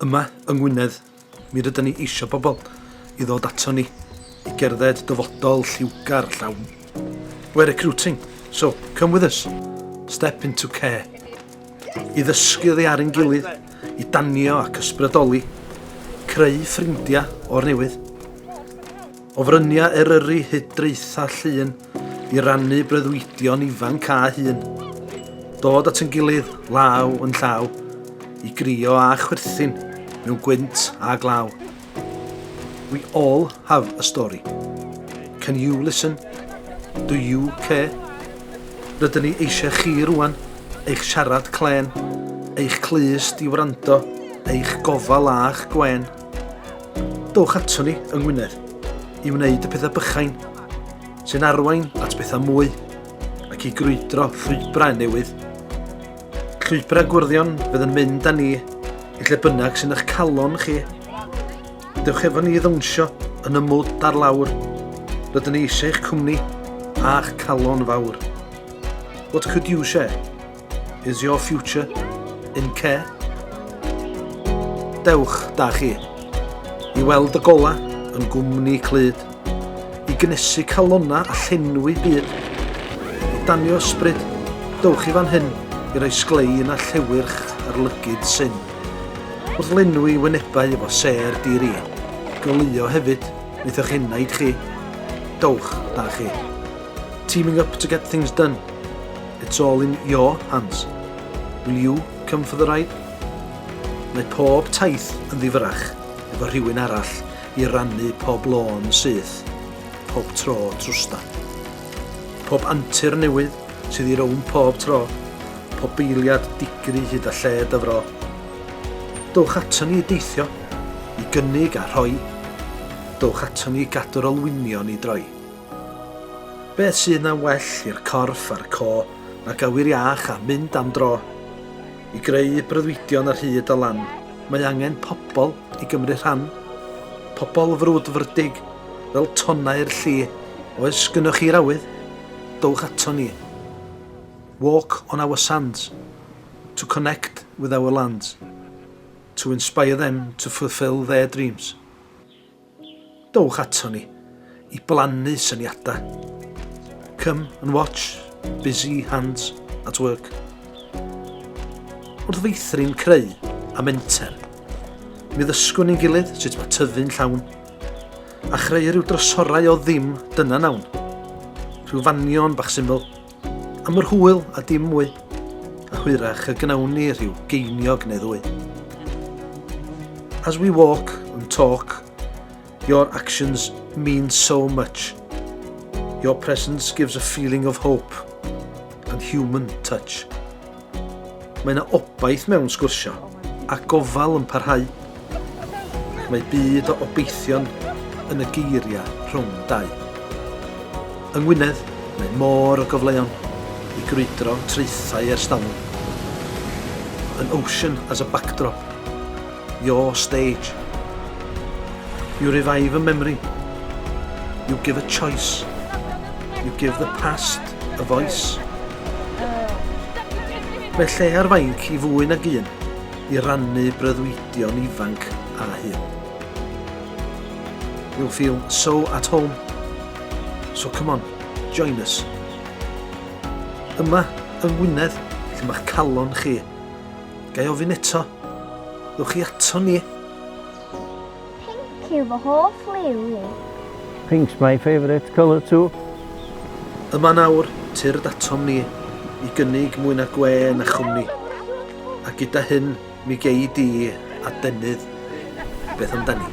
Yma yng Ngwynedd, mi rydyn ni eisiau pobl i ddod ato ni i gerdded dyfodol lliwgar llawn. We're recruiting, so come with us. Step into care. I ddysgu oddi ar ein gilydd, i danio ac ysbrydoli, creu ffrindiau o'r newydd. O fryniau Eryri hyd draethau llun i rannu breuddwydion ifanc a hun. Dod at yn gilydd, law yn llaw, i grio a chwerthin mewn gwynt a glaw. We all have a story. Can you listen? Do you care? Rydyn ni eisiau chi rwan, eich siarad clen, eich clust i wrando, eich gofal a'ch gwen. Dowch ato ni yng Ngwynedd i wneud y pethau bychain sy'n arwain at bethau mwy ac i grwydro llwybrau newydd. Llwybrau gwrddion fydd yn mynd â ni i lle bynnag sy'n eich calon chi. Dewch efo ni i ddawnsio yn y mwd ar lawr. Rydyn ni eisiau eich cwmni a'ch calon fawr. What could you share? Is your future in care? Dewch da chi i weld y gola yn gwmni clyd, i gnesu calona a llenwi byd, i danio ysbryd, dewch i fan hyn i roi sglein a llewyrch ar lygyd syn. Wrth lenwi wynebau efo ser diri, goleuo hefyd wneith eich enaid chi. Dewch da chi. Teaming up to get things done. It's all in your hands. Will you come for the ride? Mae pob taith yn ddifyrach efo rhywun arall i rannu pob lôn syth, pob tro trwsta. Pob antur newydd sydd i rown pob tro, pob beiliad digri hyd a lled y fro. Dowch ato ni i deithio, i gynnig a rhoi, dowch ato ni i gadw'r olwynion i droi. Beth sydd na well i'r corff a'r co nag awyr iach a mynd am dro? I greu breuddwydion ar hyd a lan, mae angen pobl i gymryd rhan. Pobl frwdfrydig, fel tonnau'r lli. Oes gynnoch chi'r awydd? Dowch aton ni. Walk on our sands. To connect with our lands. To inspire them to fulfil their dreams. Dowch aton ni i blannu syniadau. Come and watch busy hands at work. Wrth feithrin creu a menter, mi ddysgwn ni'n gilydd sut mae tyfu'n llawn, a chreu rhyw drysorau o ddim dyna nawn. Rhyw fanion bach syml, Am yr hwyl a dim mwy, a hwyrach y gnawn ni rhyw geiniog neu ddwy. As we walk and talk, your actions mean so much. Your presence gives a feeling of hope and human touch. Mae yna obaith mewn sgwrsio, a gofal yn parhau. Mae byd o obeithion yn y geiriau rhwng dau. Yng Ngwynedd, mae môr o gyfleon i grwydro traethau ers talwm. An ocean as a backdrop. Your stage. You revive a memory. You give a choice. You give the past a voice. Mae lle ar fainc i fwy nag un i rannu breuddwydion ifanc a hyn. You'll feel so at home. So come on, join us. Yma, yng Ngwynedd, lle mae'ch calon chi Gai ofyn eto? Ddwch chi ato ni? Pink yw fy hoff liw i. Pink's my favourite colour too. Yma nawr, tyrd atom ni, i gynnig mwy na gwe na chwmni. A gyda hyn, mi gei di adenydd. Beth amdani?